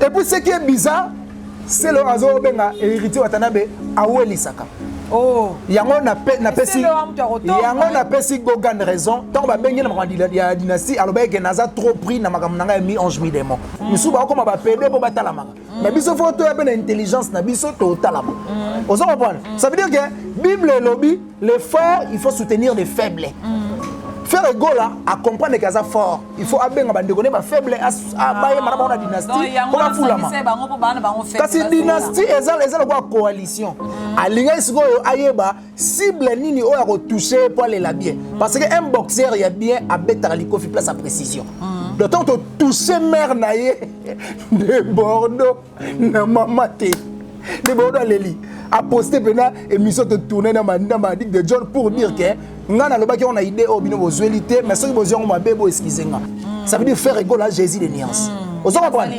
Et puis ce qui est bizarre, c'est le azo benga héritier Watanabe awelisaka. Oh. yango napesi yango napesi gogan raison ntango babengi na makambo ya dynastie alobaki ke naza trop pris na makambo na ngai ya mi ange mi démon misusu bakokoma bapede mpo batalamaka na mm. biso fo toya mpe na intelligence na biso totalama mm. ozo comprendre mm. ça veut dire que bible elobi le fort il faut soutenir les faibles frère egola acomprendre ke aza fort il faut abenga bandeko ne bafaible bayemana bango na dynastie mpo bafulama kasi dynastie eza lokola coalition alingaki sikoyo ayeba cible nini oyo akotouche ye mpo alela bien parce que un boxeur ya bien abetaka likofi place ya précision mm. donc ntango totouche mare na ye nde bordeaux na mama te nde bordeaux aleli aposte mpena émission totourne na madic de john pour dire ke ngai nalobaki yango na idée oyo bino bozweli te mais soki bozwi yango mabe bo excuse nga mm. ça veut dire faire égole à jésus de nuance mm. ozo comprendre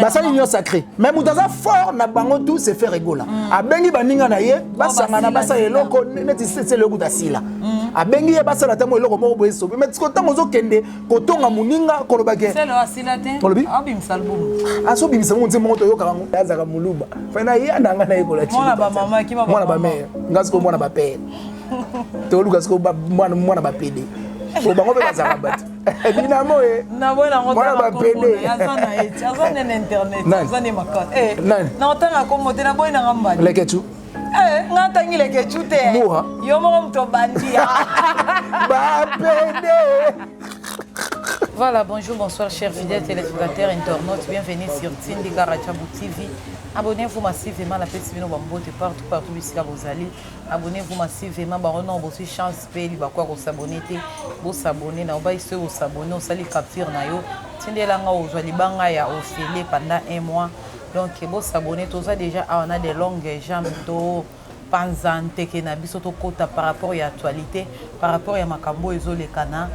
basali union sacré mais moto aza fort na bango tout se faire egola abengi baninga na ye basangana basala eloko neti sesele okuta sila mm. abengi ye basala ntango eloko moko boye sobi mai siko ntango ozokende kotonga moninga kolobaki olobi azobimisa mongo ntie moko toyokaka yango azaka moluba fai na ye ananga na yekolaki mwana bamere nga siko mwana bapere toluka siko mwana bapede po bango mpe bazalaka bato dinamo ye mwana bapede naotanga kombo te naboyi nanga mbadi leketu eh, nga tangi leketu te yo moko moto obandi bapede Voilà, bonjour, bonsoir, chers fidèles téléspectateurs, internautes. Bienvenue sur Tindi Karachabou TV. Abonnez-vous massivement à la petite Bino Bambote partout, partout, ici à Bozali. Abonnez-vous massivement, Baronon, Bossi Chance. mpe libaku ya kosabone te bosabone na obai soki osabone osali capture na yo tindela nga ozwa libanga ya ofele pendant un mois donc bosabone toza déjà awa na de longue jambe to panza nteke na biso tokota par rapport ya actualité par rapport ya makambo oyo ezolekana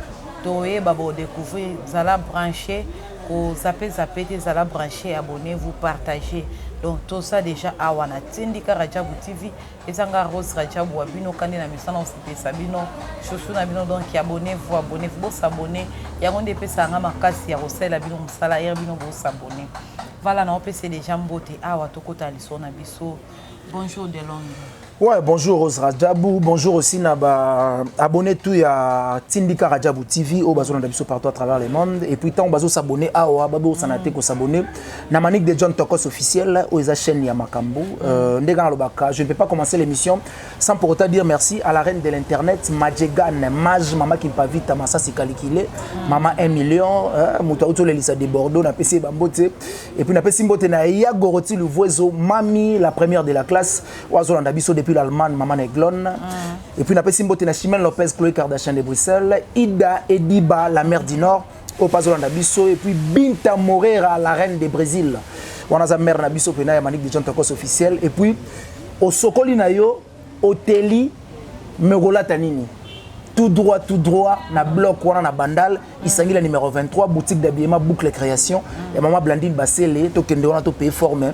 toyeba bodecouvrir zala branche kozape zape te zala branche abonnez vous partagez donc toza déjà awa na tindika rajabu tv eza nga Rose Rajabu wa bino kande na misana osepesa bino chouchou na bino donc abonnez-vous abonnez-vous bo s'abonner yango nde epesaka nga makasi ya kosalela bino mosala ere bino bo s'abonner vala na opesa deja mbote awa tokota liso na biso bonjour de Londres Ouais, bonjour Rose Rajabu, bonjour aussi na ba abonné tout ya Tindika Rajabu TV au bazo na biso partout à travers le monde et puis tant bazo s'abonner awa babo sanate ko s'abonner na Manick de John Tokos officiel oyo eza chaîne ya makambo euh, ndenge nalobaka je ne peux pas commencer l'émission sans pour autant dire merci à la reine de l'internet Majegan Maj Mama Kimpavita Masasi Kalikile Mama 1 million euh, moto auti olelisa de Bordeaux napesi ye bambote et puis napesi mbote na ya Goroti Luvuezo Mami la première de la classe oyo azolanda biso depuis l'Allemagne Mama Neglone mm. et puis napesi mbote na Chimène Lopez Chloé Kardashian de Bruxelles Ida Ediba la mère du Nord oyo mpe azolanda biso epuis binta morera la reine de brésil wana aza mare na biso mpena ya manik de john tokos officiel epuis osokoli na yo oteli me okolata nini tout droit tout droit na bloc wana na bandal isangi la numero 23 boutique d'habillement boucle création ya mama blandine basele tokende wana topaye forme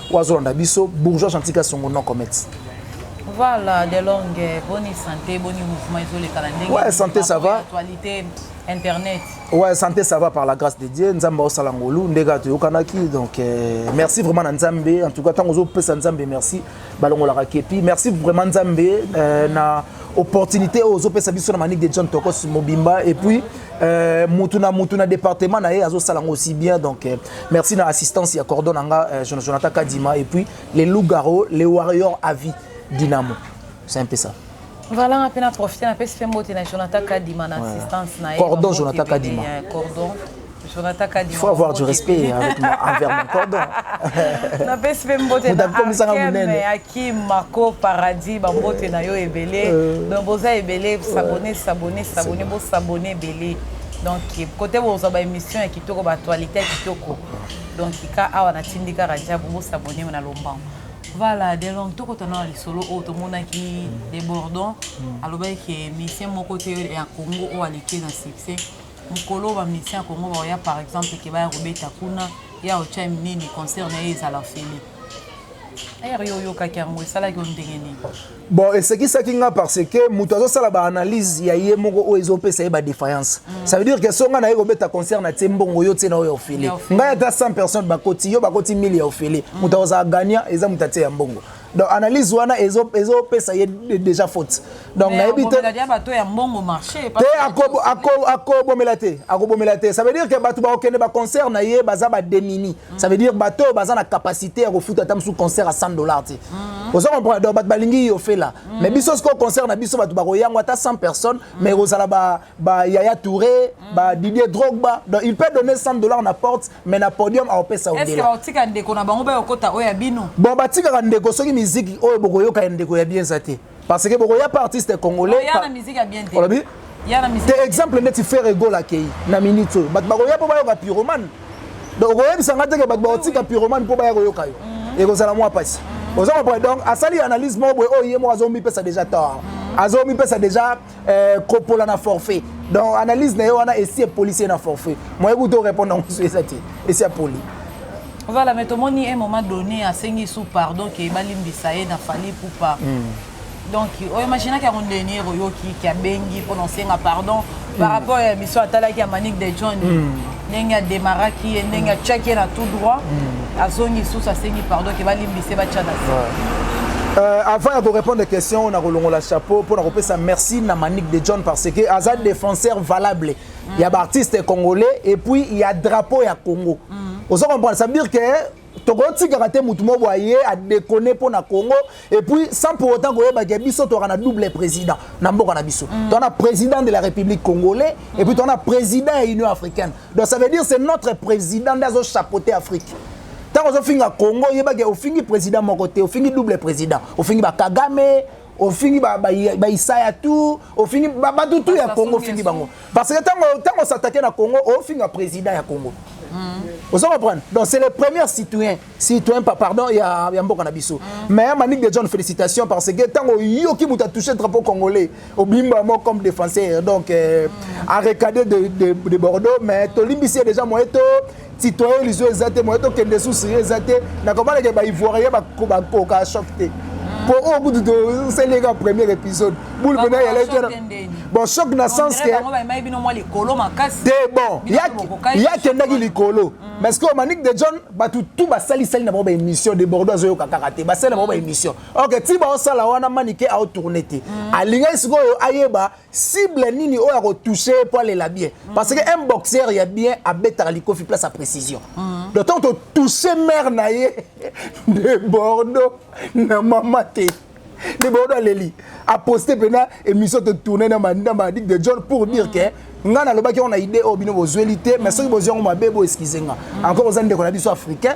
oyo azolanda biso bourgeois gentil kasongo non comment voilà de longue boni santé boni mouvement ezolekana ndenge ouais, santé ça va actualité internet ouais santé ça va par la grâce de dieu nzambe aosala ngolu nde kaka toyokanaki donc euh, merci vraiment na nzambe en tout cas ntango ozopesa nzambe merci balongolaka kepi merci vraiment nzambe euh, na mm -hmm. opportunité oyo ozopesa biso na manique de john tokos mobimba et puis euh, mutu na mutu na département na ye azosala yango aussi bien donc euh, merci na assistance ya cordon na nga euh, jonathan kadima et puis les lougaro les warriors à vie dynamo c'est un peu ça voilà nga mpe na profite napesi mpe mbote na jonathan kadima na assistance na ye cordon jonathan kadima cordon Jonathan Kadi. Il faut avoir du respect avec moi, envers mon cordon. Na pesi pe mbote na Akim, Akim, Marco, Paradis, ba mbote na yo ebele. Euh. Donc boza ebele, s'abonner, s'abonner, s'abonner, bo s'abonner ebele. Donc côté boza ba émission ya kitoko, ba actualité ya kitoko. Donc ka awa na tindika raja, bo s'abonner na lombango. voilà de long tokotana na lisolo oyo tomonaki debordon mm. alobaki ke misien moko te ya congo oyo aleki na succès mokolo oyo ba musiciens ya Congo bakoya par exemple ke baya kobeta kuna ye aotya nini concert na ye ezala ofele heure yo oyokaki yango esalaki yo ndenge nini bon esekisaki nga parce que moto azosala baanalyse ya ye moko oyo ezopesa ye badéfaillance mm. ça veut dire que so nga naye kobeta concert na tie mbongo yo tie na oyo ya ofele ngai ata 100 personnes bakoti yo bakoti 1000 ya ofele mm. moto akozala gagnant eza moto atie ya mbongo donc analyse wana ezo ezo pesa ye déjà faute donc nayebi te te akobo akobo akobomela te akobomela te ça veut dire que bato bakokende ba concert na ye baza ba demini mm. ça veut dire bato oyo baza na capacité ya kofuta ata mosusu concert à 100 dollars te mm. ozo comprendre donc bato balingi yo fela mm. mais biso sikoyo concert na biso bato bakoyango ata 100 personnes mais ekozala ba ba Yaya Touré, mm. ba Didier Drogba. Donc il peut donner 100 dollars na porte mais na podium a opesa odela. Est-ce que batika ndeko na bango ba yokota oya bino? Bon batika ka ndeko soki miziki oyo boko yoka ndeko ya bien zate. Parce que boko ya pa artiste congolais. Ya na miziki ya bien te. Olobi? Ya na miziki. Te exemple neti Ferre Gola kei na minute oyo. Bat bako ya po ba yoka pyromane. Donc oyebisa nga te ke bat ba otika pyromane po ba ya koyoka yo. Mm-hmm. Ekozala mwa pasi. Mm-hmm. Ozo comprendre donc asali analyse moko boye oyo ye moko azomipesa déjà tort. Mm-hmm. Azomipesa déjà Euh, kopola na forfait donc analyse na ye wana esi epolisi ye na forfait moye kuta orépondre yango so eza te esi apoli voilà mais tomoni un moment donné asengi su pardon ke balimbisa ye na fali pupa mm. donc oyo imaginaki yango ndenier oyoki ke abengi mpo na osenga pardon par hmm. rapport ya biso atalaki ya manique de john mm. ndenge ademaraki ye ndenge atiaki ye na tout droit hmm. azongi lisusu asengi pardon ke balimbise batya na Euh, avant ya korépondre question oyo nakolongola chapeau mpo na kopesa merci na manique de john parce que aza mm. défenseur valable mm. ya baartiste congolais et puis ya drapeau ya congo mm. ozo comprendre ça veut dire que tokotikaka te motu moko aye adekone mpo na congo epuis sans pour autant koyeba ke biso toyaka na double président na mboka na biso mm. toa na président de la république congolais mm. epuis toa na président ya union africaine donc ça veut dire c'est notre président nde azochapote afrique ntango ozofinga congo yebake ofingi président moko te ofingi double président ofingi bakagame ofingi baisaya tu ofingi bato tu ya congo ofingi bango parce que ntango osatake na congo ofinga président ya congo mm. ozo comprendre donc c'est le premier citoyen citoyen pa pardon ya, ya mboka na biso mm. mais manique de john félicitation parce que ntango oyoki moto atouche drapeau congolais obimba yango comme défenseur donc euh, mm. arecade de, de, de bordeaux mais tolimbisi ye déjà moye to citoyen lizo eza te moye tokende susu ye eza te nakomanake baivoirien bakoka ya choc te po oyo kutu tosali eka premier épisode boule pena yalaki bon choc na sens ke te bon ye akendaki likolo mm. mais que manik de john bato tu basalisali na bango baémission de bordeaux azoyoka kaka te basali na bango baémission ok ti baosala wana manike aotourne te mm. alingaki sikoyo ayeba cible nini oyo ako toucher ye po alela bien parce que un boxeur ya bien abetaka likofi place ya précision de temps to toucher mère na ye de bordeaux na mama te de bordeaux aleli aposte mpena émission totourne na madic de john pour dire que ngai nalobaki yango na idée oyo bino bozweli te mais soki bozwi yango mabe bo excuse nga encore oza ndeko na biso africain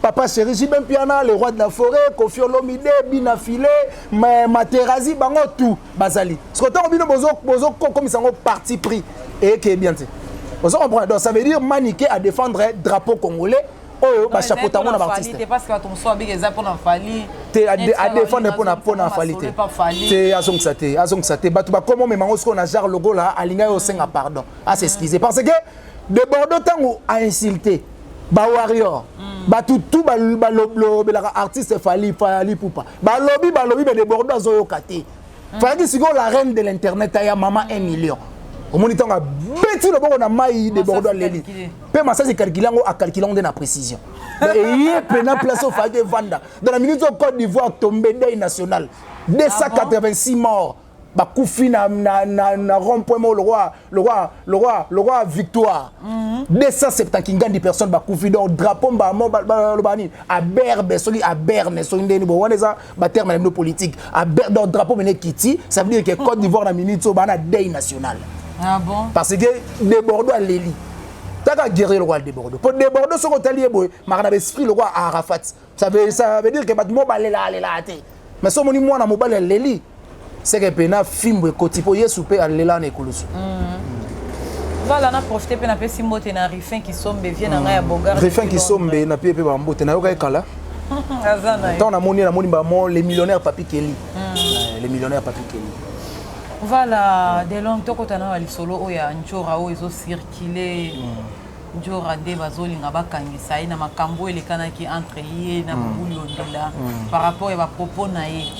Papa Chéri, Jibin Piana, le roi de la forêt, Kofi Olomide, Bina Filet, Materazi, bango tout, bazali. Ce que tant bino bozo bozo comme ça parti pris et qui est bien dit. Vous comprenez Donc ça veut dire maniquer à défendre drapeau congolais oyo bachapota yango na baartiste te adefendre mpo na fali te te azongisa te azongisa te bato bakoma omema yango sikoyo na genre logola alingaki osenga pardon asexcuse parce que de bordeaux ntango ainsulte ba warrior mm. bato tu balobelaka artiste fali fali pupa balobi balobi me de bordeaux azoyoka te mm. fayaki sikoyo la reine de l'internet aya mama 1 million omoni ntango abeti loboko na mai de bordeaux aleli mpe masasi ekalkile yango akalkile yango nde na précision eye mpena place ofayaki evanda dans la minute oyo côte d'ivoire tombe deuil national 286 ah morts bakufi na, na, na, na rond point moko lokwa lokwa lokwa lokwa victoire mm -hmm. 270 kingandi personne bakufi donc drapeau mbamo balobaka nini aberbe soki aberne soki ndeni bo wana eza baterme na bino politique aber donc drapeau mene kiti ça veut dire que côte d'ivoire na minute oyo bana dei national ah bon? parce que debordo aleli taka guerrier lokwa debordo mpo debordo soki otali ye boye maka na baesprit lokwa arafat ça veut ça veut dire que bato mobalela alela te mais so moni mwana mobali aleli seke mpe na fimbo ekoti mpo yesu mpe alela na ekulusu mm. vala na profite mpe napesi mbote na rifin kisombe vie na ngai ya bogar rifin kisombe na pie mpe bambote nayokaki kala ntango namoni ye namoni bamo le millionnaire papi keli mm. eh, le millionnaire papi keli vala delong tokota na lisolo oyo ya njora oyo ezocircule mm. Ndjora nde bazolinga bakangisa ye na makambu oyo elekanaki entre ye na Bobo Liondola par rapport ya ba propos na ye.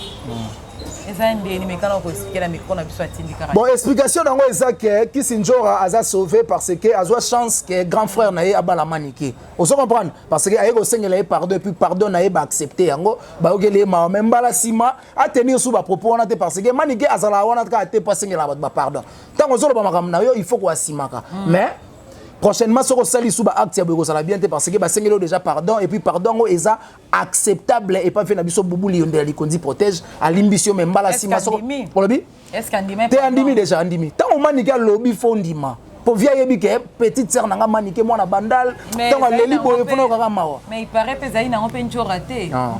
Eza ndeni mais kana ko expliquer na micro na biso atindi kaka. Bon explication nango eza que Kisi Ndjora aza sauvé parce que azwa chance que grand frère na ye abala manike. Ozo comprendre? Parce que aye ko sengela ye pardon et puis pardon na ye ba accepter yango ba yokeli ye mawa mais mbala sima a tenir sous ba propos wana te parce que manike azala wana kaka te po asengela bato ba pardon. Tango ozo loba makambo na yo il faut ko asimaka mais prochainement soki osali lisusu baacte ya boye ekozala bien te parce que basengeli oyo déjà pardon et puis pardon yango eza acceptable epa mpe na biso bubuli yondela likonzi protège alimbisi yo me mbala nsima olobi te andimi déjà andimi ntango omanike alobi fo ndima po vie ayebi ke petite sœur na nga manike mwana bandal ntango aleli boye mpona okaka mawa ah.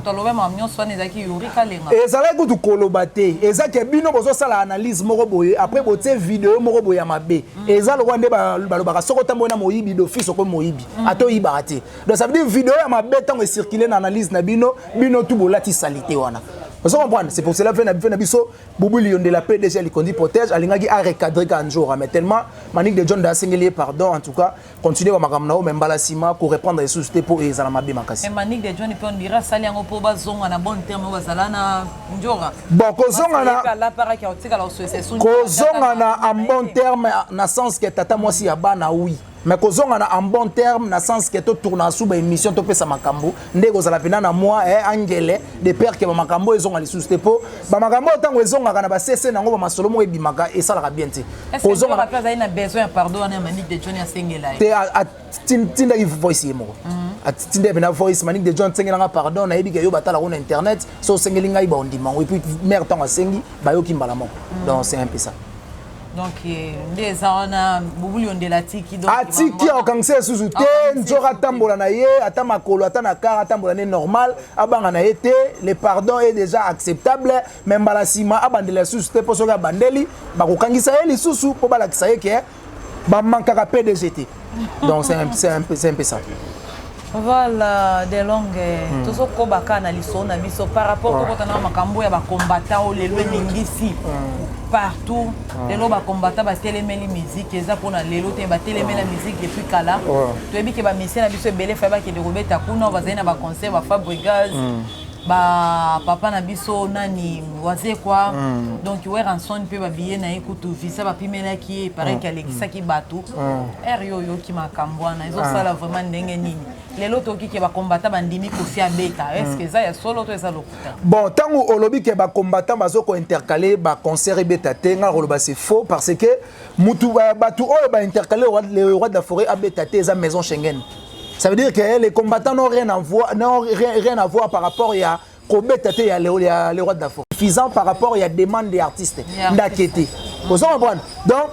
ezalaki kutu koloba te eza ke bino bozosala analyse moko boye après botie video moko boye ya mabe eza lokola nde balobaka soki otamboli na moyibi d'office okomi moyibi mm. ata oyibaka te donc ça veut dire video ya mabe ntango ecircule na analyse na bino bino tu bolati salite wana ozo comprendre c'est pour cela mpe na biso bobuli yondela pdg alikondi protège alingaki arecadre kanjora mais tellement manique de john da asengeli ye pardon en tout cas continue ba makambo na yo mais mbala nsima ko reprendre lisusu te mpo ezala mabe makasi eh, manique de john mpe on dirait asali yango mpo bazonga na bonne terme oyo bazala na njora bon kozonganakozonga na en bon terme na sens ke tata mwasi ya bana wi mais kozonga na en bon terme na sens ke totourna suba émission topesa makambo nde ekozala mpenza na mwa eh, angele de pere ke bamakambo oyo ezonga lisusu te mpo bamakambo oyo ntango ezongaka na basese na yango bamasolo moko ebimaka esalaka bien te kozongaazali na besoin ya pardon wana ya manique de john asengela ye te atindaki voice ye moko mhm. atindaki mpena voice manique de john asengela nga pardon nayebi ke yo batala ngo na internet so osengeli ngai baondima yango epuis mare ntango asengi bayoki mbala moko mhm. donc c'est un peu ça donc eh, nde eza wana bubuli ondela atiki atiki akangisa lisusu te nzoka atambola na ye ata makolo ata na kar atambola ne normal abanga na ye te le pardon est déjà acceptable me mbala nsima abandela lisusu te mpo soki abandeli bakokangisa ye lisusu mpo balakisa ye ke bamankaka pdg te donc c'est un, un, un peu ça voilà de longue hmm. tozokoba kaka na lisolo na biso par rapport tokota na makambo ya bacombatant oyo lelo eningisi hmm. partout hmm. lelo bacombatant batelemeli musique eza mpona lelo te batelemeli ya musique depuis kala toyebi ke bamisie na biso ebele fai bakende kobeta kuna bazali na baconcert bafabrigas ba papa na biso nani wazekwa mm. donc weranson mpe babiye na ye kutu visa bapimelaki ye pareil mm. alekisaki bato mm. ere yo oyoki makambo wana ezosala ah. vraiment ndenge nini lelo toyoki ke bakombata bandimi kofi abeta mm. estce eza ya solo to eza lokuta bon ntango olobi ke bakombata bazo kointercale baconcert ebeta te ngai koloba se faux parce que mutu bato oyo baintercale le roi de la forêt abeta te eza maison schengen mm. Ça veut dire que les combattants n'ont rien à voir, n'ont rien, rien à voir par rapport ya kobeta te ya le roi de la forêt. Suffisant par rapport ya demande des artistes. Ndakete. Ozo comprendre? Donc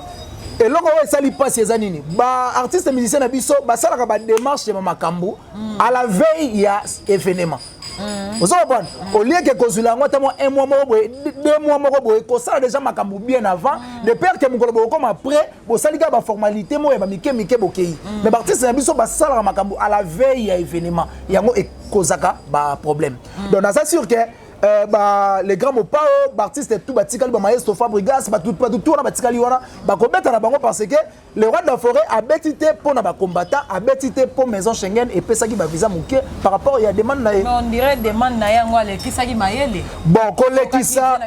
eloko oyo esali mpasi eza nini baartiste musicien na biso basalaka bademarche ya makambo mm. à la veille ya événement mm. ozo comprendre mm. au lieu ke kozwila yango ata mwa un mois moko boye deux mois moko boye kosala déjà makambo bien avant de peur ke mokolo bokokoma près bosali kaka baformalité moko ya bamike mike bokei mm. mais baartiste na biso basalaka makambo à la veille ya événement yango ekozaka baproblème mm. donc naza sur ke Euh, ba, les grands mopao baartiste tout batikali bamaestro fabrigas bato tout wana batikali wana bakobeta na bango parce que le roi de la forêt abeti te mpo na bacombattant abeti te mpo maison schengen epesaki bavisa moke par rapport ya demande na ye on dirait demande na ye yango alekisaki mayele bon kolekisa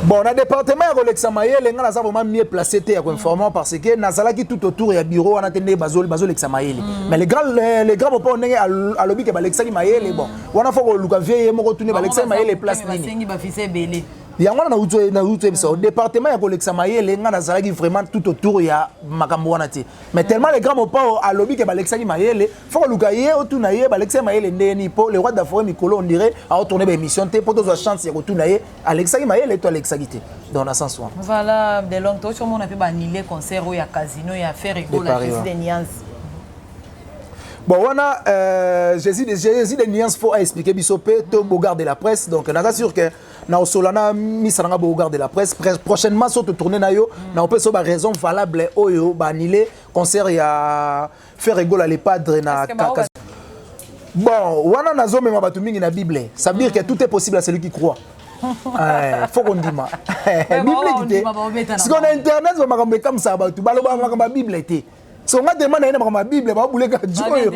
bon na département ya kolekisa mayele ngai naza vraiment mieux placé te ya koinformant parce que nazalaki tout autour ya bureau wana te ndenge bazolekisa mayele mm. mais le grand le grand papa ndenge alobi ke balekisaki mayele bon wana fo koluka vie ye moko tuni balekisaki mayele place nini yango wana nauti oyebisa yo département ya kolekisa mayele ngai nazalaki vraiment tout autour ya makambo wana te mais tellement le grand mopao alobi ke balekisaki mayele faut koluka ye otuna ye balekisa ye mayele ndenge nini mpo le roi d'afore mikolo on dirait aotourne baémission te mpo tozwa chance ya kotuna ye alekisaki mayele to alekisaki te donc na sens wana voilà de long tosi omona mpe baannule concert oyo ya casino ya faire egola jésus de niance bon wana euh, jésus, de, jésus de niance faut aexplike biso mpe to bogard de la presse donc naza sûr que na osola na misa nanga bogard de la presse prochainement so totourne na yo na opesa yo baraison valable oyo baannule concert ya Ferre Gola le padre na kaka. Bon, wana nazo mema bato mingi na Bible. Ça veut dire que tout est possible à celui qui croit. Eh, faut qu'on dima. Bible dit. Si on a internet, on va comme comme ça ba tu balo ba ma Bible te. So nga demande na ma Bible ba boule ka joyo.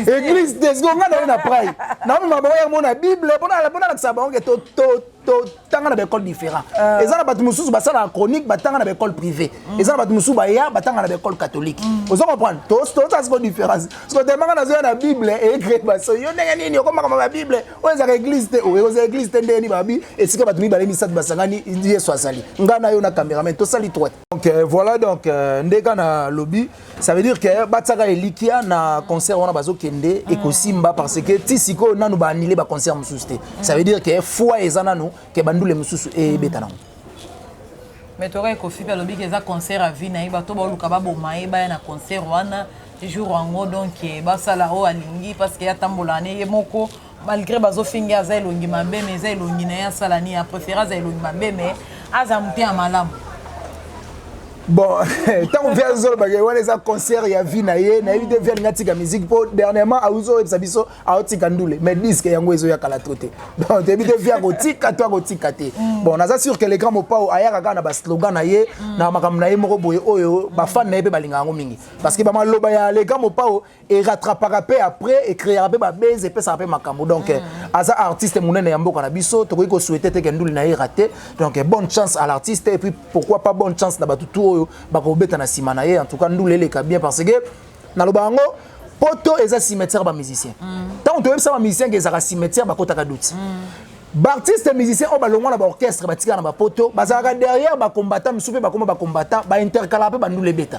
Église des go nga na na pray. Na ma ba ya mona Bible, pona pona la sa ba on to to totanga na baekole différent euh. eza na bato mosusu basalaka chronique batanga na baekole privé mm. eza na bato mosusu baya batanga na baekole catholique mm. oza comprendre toza siko différence siko temanga nazoya na bible eecre baso yo ndenge nini okomaka ma babible oyo ezaka église te oyo oza église te ndenge nini babi esika bato mibale misato basangani yesu azali ngai na yo na cameraman tosali droite donc euh, voilà donc euh, nde ka na lobi ça veut dire que euh, batiaka elikia na concert wana bazokende mm. ekosimba parce que ti sikoyo nanu baanile baconcert mosusu te ça veut dire que foi eza nanu ke bandule mosusu ebeta nango mais toka ekofi mpe alobiki eza concert avi na ye bato baoluka baboma ye baya na concert wana jour yango donc basala oyo alingi parce que atambola ne ye moko malgré bazofinge aza elongi mabe me eza elongi na ye asala nini aprefere aza elongi mabe me aza mote ya malamu bon ntango mpe azolobake wana eza concert ya vie na ye nayebi te vie alingi atika musique mpo dernièrement auzi oyebisa biso aotika ndule mais disque yango ezoya kala to te donc toyebi te vie akotika to akotika te mm. bon naza sur que le grand mopao ayaka kaka na baslogan na ye mm. na makambo na ye moko boye oyo bafane na ye mpe balingaka yango mingi parce que bamaloba ya le grand mopao e rattrapaka pe après e créera pe ba base epesaka pe makambo donc mm. aza artiste munene ya mboka na biso tokoki ko souhaiter te kenduli na ye raté donc bonne chance à l'artiste et puis pourquoi pas bonne chance na batu tout oyo bakobeta na sima na ye en tout cas ndule eleka bien parce que naloba yango poto eza cimetière ba musicien ntango mm. toyebisa ba musicien ke ezalaka cimetière bakotaka duti mm. baartiste musicien oyo balongwa na baorchestre batikala na bapoto bazalaka derrière bacombattant mosusu mpe bakoma bacombattant baintercala mpe bandula ebeta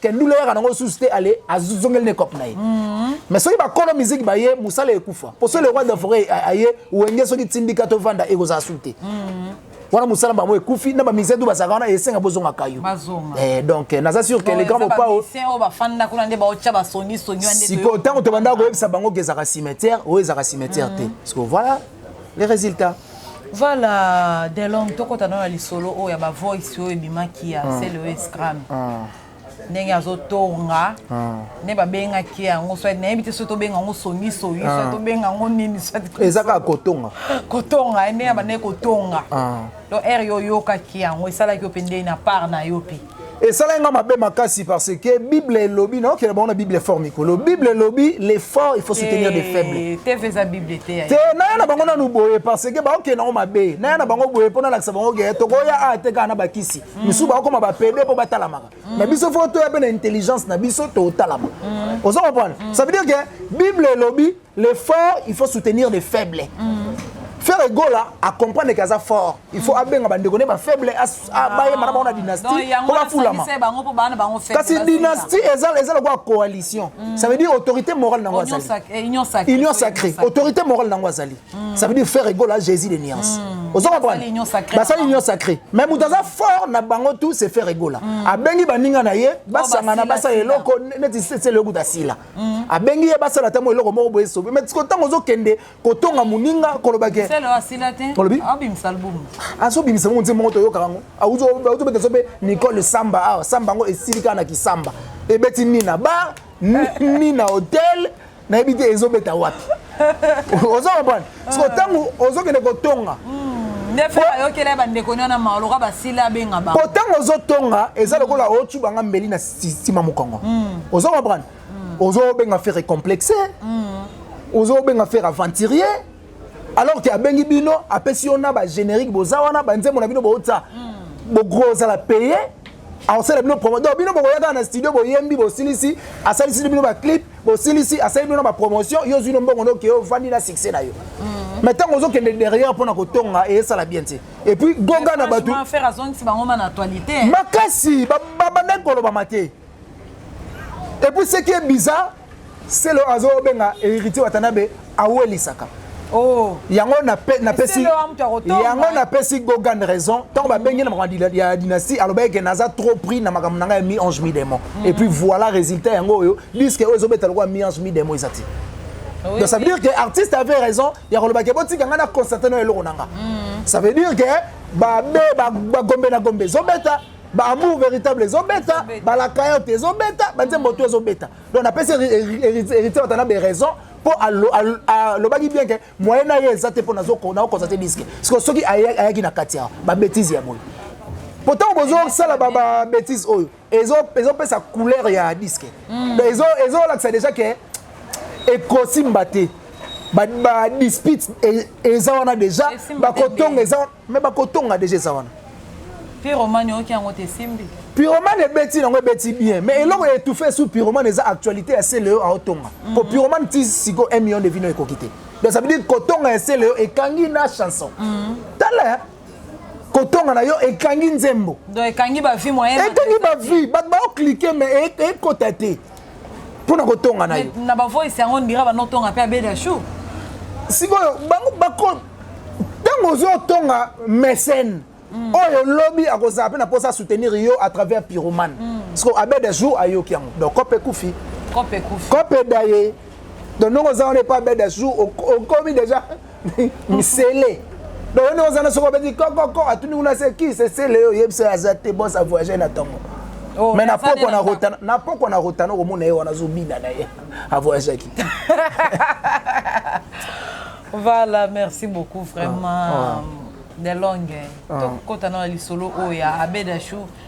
kendule yaka nango lisusu te ale azongeli na ekope na ye mhm. mais soki bakolo miziki baye mosala ekufa mpo soki le roi de foret aye wenge soki tindika tovanda ekozala su te mhm. wana mosala bango ekufi na bamusicien tu bazalaka wana esenga bozongaka yo eh, donc eh, naza sur que le grand mopao sikoyo ntango tobandaka koyebisa bango ke ezalaka cimetière oyo ezalaka cimetière te sikoyo mhm. voilà les résultats Voilà, Delong, tokota na lisolo oyo ya ba voice oyo ebimaki ya ah. CLES Cram. Ah. ndenge azotonga ah. nde babengaki yango soit nayebi te soki tobenga yango songisongi ah. soit tobenga yango nini eza kaka kotonga kotonga eh, ndenge abandaki kotonga ah. donc ere yo oyokaki yango esalaki yo mpe ndeni na part na yo mpe esalaki nga mabe makasi parce que bible elobi naokela bango na bible fort mikolo bible elobi l'effort il faut soutenir des faibles te naya na bango nanu boye parce que baokende yango mabe naya na bango boye mpo nalakisa bango ke tokoya a te kaka na bakisi mm. misusu bakokoma bapede mpo batalamaka mm. na biso fo toya mpe na intelligence na biso totalama mm. ozo comprendre ça veut dire que bible elobi Les forts, il faut soutenir les faibles. Mm. Ferre Egola a comprendre que aza fort. Il faut abenga bande kone ba faible a baye mara ba dynastie ko ba fulama. Kasi dynastie eza eza la coalition. Mm. Ça veut dire autorité morale nango azali. Eh, union sacrée. Union sacrée. Autorité morale nango azali. Mm. Ça veut dire Ferre Egola Jésus de Niance. Mm. Ozo comprendre? Ba sali union sacrée. Mais mutaza fort na bango tout c'est Ferre Egola. Abengi baninga na ye, basangana basa eloko neti c'est le goût d'asila. Mm. abengi ye basala ata mwa eloko moko boye sobe mais siko ntango ozokende kotonga moninga koloba ke olobi azobimisa ngo nze moko toyokaka yango auzobeta so mpe nicole samba awa samba yango esili kaka na kisamba ebeti nina bar nina hotel nayebi te ezobeta wapi ozo comprendre siko ntango ah. ozokende kotonga hmm. po ntango ozotonga eza lokola otu banga mbeli na sima mokongo hmm. ozo comprendre hmm. ozobenga fere complexe ozobenga fere aventurier alors ke abengi bino apesi yo na bagénérique boza wana banzembo na bino bootisa bogro ozala paye aosala bino promo donc bino bokoya kaka na studio boyembi bosilisi asalisi bino baclip bosilisi asali bino na bapromotion yo ozwi no mbongo noke yo ovandi na succès na yo mhm. mais ntango ozokende derrière mpo na kotonga eyesala bien te epuis goga na bato makasi babandaki kolobama te epuis seki ye bizarre selo azobenga héritier watanabe awelisaka Oh. yango napesi yango napesi gogan raison ntango babengi na makambo ya dynastie alobaki ke naza trop pris na makambo na ngai ya mi ange mi démon mm. et puis voilà résultat yango oyo diske oyo ezobeta lokola mi ange mi démon eza te ah donc ça veut dire que artiste avait raison ya koloba ke botika ngai na constate na eloko na nga mm. ça veut dire ke babe bagombe na gombe ezobeta baamour véritable ezobeta balakayote ezobeta banzembo to ezobeta donc napesi héritier batana beraison mpo alobaki bien ke moyen na ye eza te mpo naokonza te diske siko soki ayaki na kati ya babetize ya boye mpo ntango bozosala babetise oyo ezopesa couleur ya diske hmm. ezolakisa deja ke ekosimba te badispute e, eza wana deja bakotonga eza wana Mais bakotonga deja eza wana. Pyromane oyoki yango te simbi. Pyromane ebeti nango ebeti bien mais eloko ya étouffé sous pyromane eza actualité ya Celeo aotonga. Mm-hmm. Ko pyromane ti siko 1 million de vino ekoki te. Donc ça veut dire kotonga ya Celeo ekangi na chanson. Mm-hmm. Tala kotonga na yo ekangi nzembo. Donc ekangi ba vie moyen. Ekangi ba vie, ba ba cliquer mais ekota te. mpo na kotonga na ye na bavoice yango ndira banotonga mpe abeda chou sikoyo bango bako ntango ozotonga mécène mm. oyo lobi akozala mpe na mposa soutenir yo à travers pyromane mm. siko abeda jour ayoki yango donc cope ekufi cope ekufi cope daye donc ndongo oza wana epa abeda jour okomi déjà misele donc yo nde ozana soki obeti kokoko atuni kuna se ki sesele yo oyebisa oyo aza te bos avoyage na ntongo Oh, mais na poko na rotana na poko na rotana komona ye wana azobina na ye avoyagaki te voilà merci beaucoup vraiment ah, ah. de longue ah. tokota na lisolo oyo ya abedachou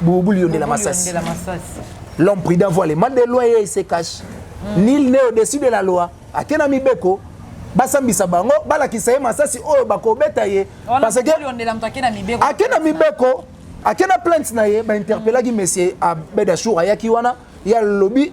Bouboule yonde la masasi. L'homme prudent voit les mal de loin et il se cache. Mm. Nil n'est au-dessus de la loi. Akena mibeko basambisa bango balakisa ye masasi oyo bakobeta ye parce que akena mibeko akena plainte na ye bainterpellaki mm. monsieur abedashour ayaki wana ye alobi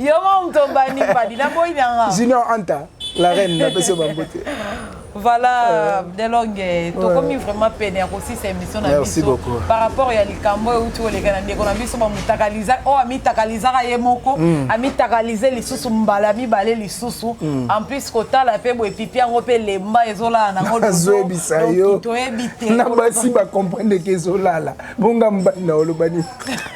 yo moko moto obandi mbadi naboyi na nga junior anta la reine napesi yo bambote voilà euh. delonge tokomi vraiment pene ya kosisa émission na biso par rapport ya likambo oyo euti koleka na ndeko na biso bamotakaliza oyo oh, amitakalizaka ye moko mm. amitakalize lisusu mbala mibale lisusu mm. en plus kotala mpe boye pipi yango mpe lemba ezolala nango azoyebisa yo toyebi te na basi bacomprendre ke ezolala bonga mobali na olobani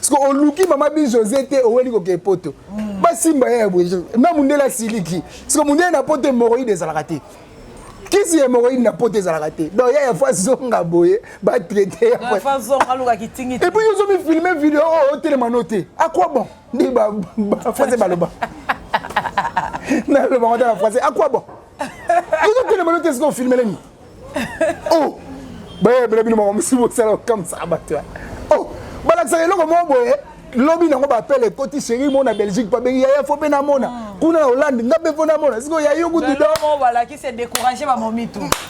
siko oluki mama bi josé te oweli kokee poto mm. basimba ye ya boye na mundele asiliki siko mundele na poto hemoroide ezalaka te kisi ya hemoroide na poto ezalaka te donc ya ya fo azonga boye batraite epuis yo ozomifilme video oyo oh, otelema oh, no te akwa bon nde bafase baloba naloba ngo ta na français akwa bon ozotelema no te siko ofilmelemi oh bayebela bino makambo mosusu bosala okamwisaka bato ya oh balakisaka eloko moko boye lobi nango bapele ekoti sheri mona belgique babengi yaya fo mpe namona hmm. kuna na hollande nga mpe mpo namona sikoyo ya yo kutu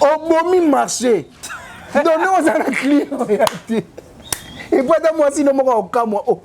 obomi marché donne ozala client oya te epo ata mwasi no moko akokamwa o oh,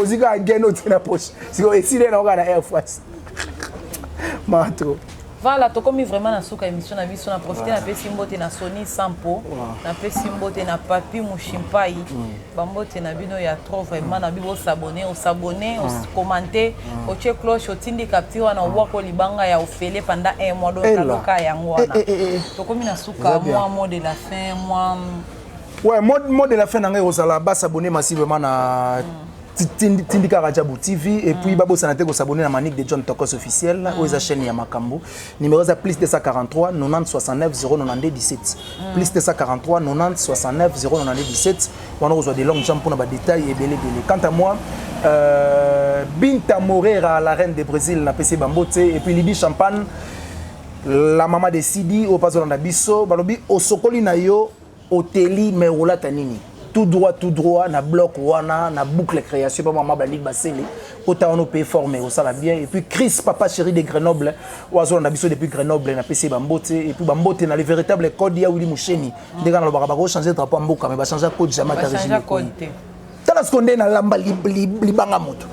ozwi kaka gen otie na poche sikoyo esili ye na oka na air france maa trop voilà tokomi vraiment na suka émission na biso na profite napesi mbote na soni sampo napesi mbote na papi mushimpai mm. bambote na bino ya trop vraiment na bibo osabone osabone okomante mm. otie mm. cloche otindi kapti wana obwako libanga ya ofele panda un mois doaloka yango wana eh, eh, eh, tokomi na suka mwa mot de la fin mwa Ouais, mot, mot de la fin na ngai kozala ba s'abonner massivement na tindi- tindika rajabu tv et puis babosana te kosabone na manique de john tokos officiel oyo eza chaîne ya makambo numéro eza plus 243 90 69 092 17 plus 243 90 69 092 17 wana okozwa de longue jambe mpona badetail ebele ebele quant à moi euh, binta morera la reine de brésil napesi ye bambo te et puis lidi champagne la mama de sidi oyo mpe azolanda biso balobi osokoli na yo Oteli mais olata nini? Tout droit tout droit na bloc wana na boucle création pa maman Blandic Basele kota wana ope fort mais osala bien et puis Chris papa chéri de Grenoble oazo na biso depuis Grenoble na pesi ba mbote et puis ba mbote na le véritable code ya Willy Musheni ndeka na lobaka bako changer drapeau mboka mais ba changer code jamais ta régime tala seconde na lamba libanga moto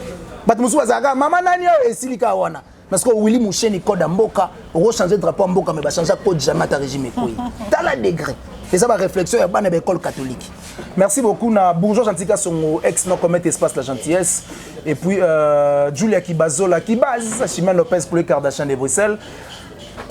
bato mosusu bazalaka mama nani oyo esilika wana Parce que Willy Moucheni code mboka, oko changer drapeau mboka mais ba changer code jamais ta régime ekoyi. Tala degré. Et ça va réflexion ya bana l'école catholique. Merci beaucoup na bourgeois Antika Songo ex no commet espace la gentillesse et puis euh, Julia Kibazola Kibaz, Chimène Lopez pour les Kardashian de Bruxelles.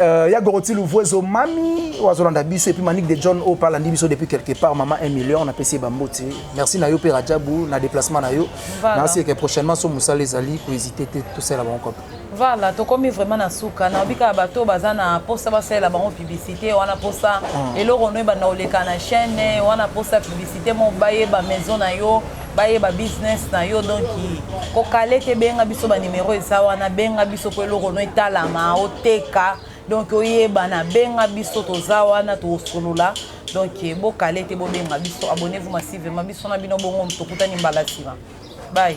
Euh, ya Goroti Louvuezo Mami wazolanda biso et puis Manik de John Opa landi biso depuis quelque part maman 1 million na pesi bamboti. Merci na yo pe Rajabu na déplacement na yo. nasi eke prochainement so mosala ezali kohésite te tosalela bango kaka vala tokomi vraiment na suka nayobi kaka bato baza na mposa basalela bango publicité wana mposa ah. eloko no ebanda koleka na chaîne wana mposa publicité mo bayeba maison na yo bayeba business na yo donc kokale te benga biso banimero eza wana benga biso mpo eloko no etalama oteka donc oyebana benga biso toza wana tosolola donc bokale te bobenga biso abonnez vous massivement biso na bino bongo tokutani mbala nsima bye